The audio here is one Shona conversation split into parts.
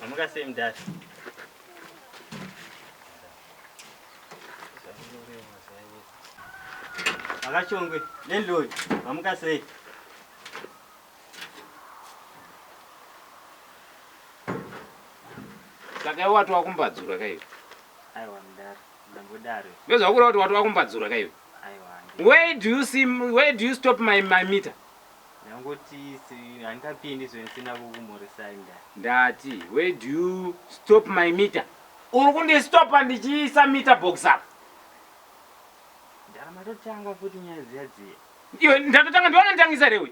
Amukasei mdhara. Akachongwe landlord amukasei. Saka iwe wati wakumbadzura kaiwe. Aiwa mdhara. Ndozva kureva kuti wati wakumbadzura ka iwe. Where do you see where do you stop my my meter? Ndangoti handingapindi zve ndisina kukumhoresai nda. Ndati where do you stop my meter? Uri kundi stopa ndichiisa meter box apa. Ndara matotanga futi nyaya dziya dziya. Iwe ndatotanga ndiona nditangisa rewe.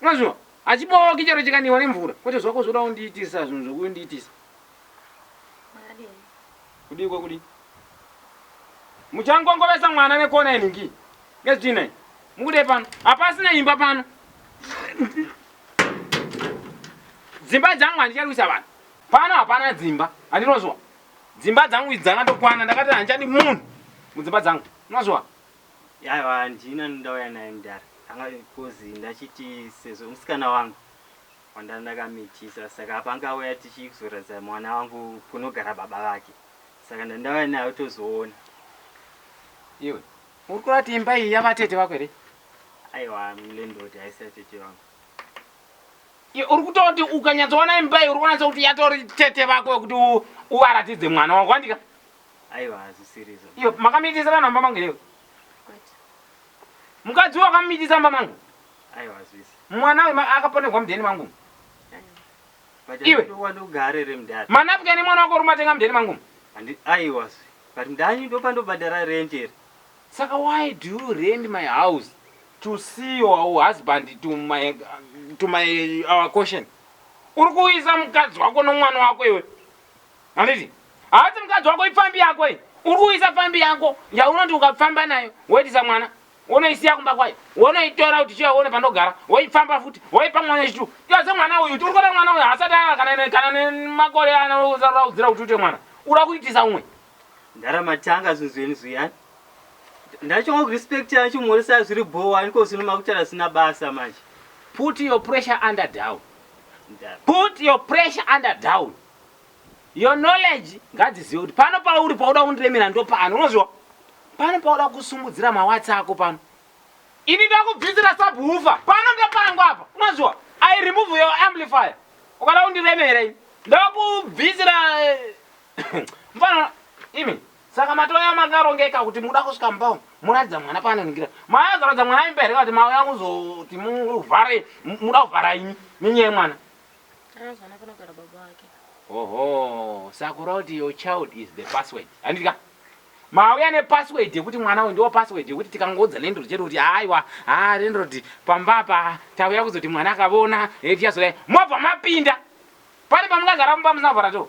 Unoziva, hachibooki chero chikanhiwa nemvura. Kwete zvako zvoda kundiitisa zvinhu zvokundiitisa. Makadini? Kudii kwekudii? Muchangongovesa mwana nekona inhingi. Ngezvitii nhai? Mukudei pano? Hapasina imba pano. Dzimba dzangu handicharwisa vanhu. Pano hapana dzimba. Handinozwa. Dzimba dzangu idzi dzakatokwana. Ndakati handichadi munhu mudzimba dzangu. Unozwa? Aiwa handina ndauya naye mdara anga coz ndachiti sezvo musikana wangu wandanga ndakamitisa saka apa anga auya tichizoratidza mwana wangu kunogara baba vake saka ndandauya naye utozoona. Iwe uri kureva kuti imba iyi yavatete vako here? Aiwa landlord haisi yatete vangu. Iwe uri kutaura kuti ukanyatsoona imba iyi uri kunatsa kuti yatori tete vako wekuti uvaratidze mwana wangu handika? Aiwa hazvisiri izvo. Iyo makamitisa vanhu amba mangu here? Kwete. Mukadzi uyo akamitisa amba mangu? Aiwa hazvisi. Mwana uyu akaponerwa mudheni mangu? Aiwa. Iwe. Ndokwadi ugare here mudhara? Manapukeni mwana wako urumatenga mudheni mangu? Handi aiwa zve. But mudhara ndopandobhadhara rent here? Saka why do you rent my house to see your husband to my, to my our caution? Uri kuuyisa mukadzi wako nomwana wako iwe? Handiti? Haasi mukadzi wako ipfambi yako iyi. Uri kuisa pfambi yako yaunoti ukapfamba nayo woitisa mwana wonoisiya kumba kwayo wonoitora kuti chiya uone pandogara woipfamba futi woipa mwana wechitu yaze mwana uyu tiri kuda mwana uyu haasati aa kana kana nemakore anaraudzira kuti ute mwana ura kuitisa umwe ndaramatanga zuzweni zuyani ndachonga kurespect yana chimhoresa zviri bhowa niko zvinoma kutara zina basa manje put your pressure under down Put your pressure under down. Your knowledge ngadzizive kuti pano pauri pauda kundiremera ndopano. Unoziva? Pano pauda kusumudzira mawatsi ako pano. Ini ndakubvisira subwoofer. Pano ndopangu apa. Unoziva? I remove your amplifier. Ukada kundiremera ini. Ndakubvisira eh, mfana imi. Saka matouya makarongeka kuti mukuda kusvika mumba umu moratidza mwana paanoningira. Mauya kuzoratidza mwana imba here kana kuti mauya kuzoti muvhare mukuda kuvhara imi nenyaya yemwana? Anonzi mwana panogara baba vake. Oho, saka kureva kuti your child is the password. Handiti ka? Mauya nepassword yekuti mwana uyu ndiwo password yekuti tikangoudza landlord chete kuti aiwa, haa landlord pamba apa tauya kuzoti mwana akavona, eh tichazoda. Mobva mapinda. Pane pamungagara mumba musina kuvhara door.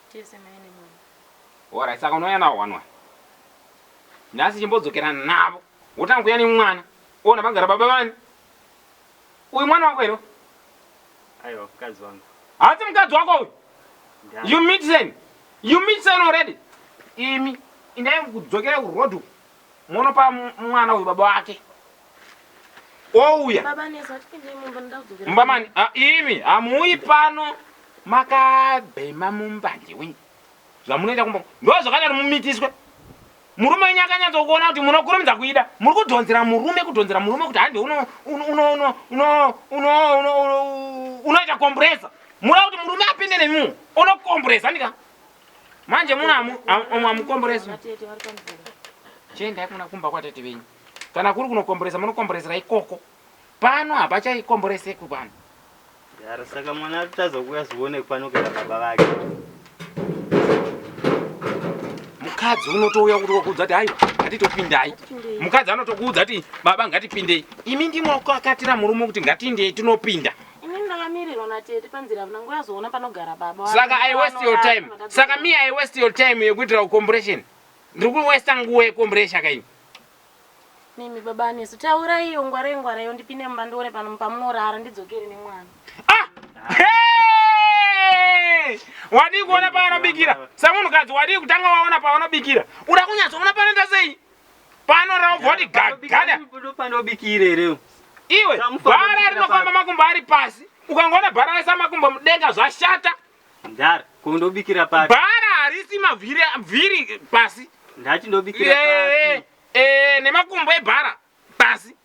Tese mai nemwana. Alright saka unouya nawo one one. Nhasi chimbodzokera navo. Wotanga kuya nemwana. Ona pagara baba vani. Uyu mwana wako here? Aiwa mukadzi wangu. Hasi mukadzi wako uyu. You meet sen. You meet sen already. Imi indai kudzokera kuroad uku. Monopa mwana uyu baba wake ouya mumba mani ah, imi hamuuyi pano makabhema mumbanje wenyu zvamunoita kumba ndo zvakadaro mumitiswe murume wenyu akanyatsokuona kuti munokurumidza kuida muri kudhonzera murume kudhonzera murume kuti hande unoita komburesa muda kuti murume apinde nemimu unokomburesa ndika manje muno amwe amukomboresi chiendai kuna kumba kwatete venyu kana kuri kunokomboresa munokomboresera ikoko pano hapachaikomborese kupano yaro saka mwana atotadza kuuya zivone kupano kana baba vake mukadzi unotouya kuti wakuudza ti aiwa ngatitopindai mukadzi anotokuudza ti baba ngatipindei imi ndimoko akatira murume kuti ngatiindei tinopinda Ini ndakamirirwa natete panzira havana nguva yazoona panogara baba. Saka I waste your time. Saka me I waste your time yekuitira kucompression. Ndiri kuwesta nguva yecompression kaini. Mimi baba anesu taura iyo ngwara ingwara iyo ndipinde mumba ndione pano pamunorara ndidzokere nemwana. Ah! Hey! Wadii kuona paanobikira? Samunhukadzi wadii kutanga waona paanobikira? Uda kunyatsoona panoita sei? Pano raubva wati gagada. Panobikira panobikira here? Iwe Samufa bhara unobikira rinofamba papi? makumbo ari pasi. Ukangoona bhara raisa makumbo mudenga zvashata. Ndari kundobikira papi? Bhara harisi mavhiri vhiri pasi. Ndati ndobikira Eh, papi? eh, nemakumbo ebhara pasi.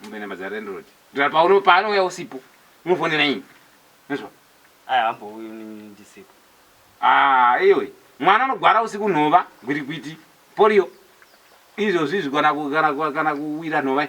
Mumbe number dza landlord. Ndira pauno paanouya usipo. Unofonera ini. Unzwa? Aya hambo uyu ndisipo. Ah, iwe. Mwana anogwara usiku nhova, gwiti gwiti, polio. Izvo zvizvi kana ku kana ku kana kuwira nhova.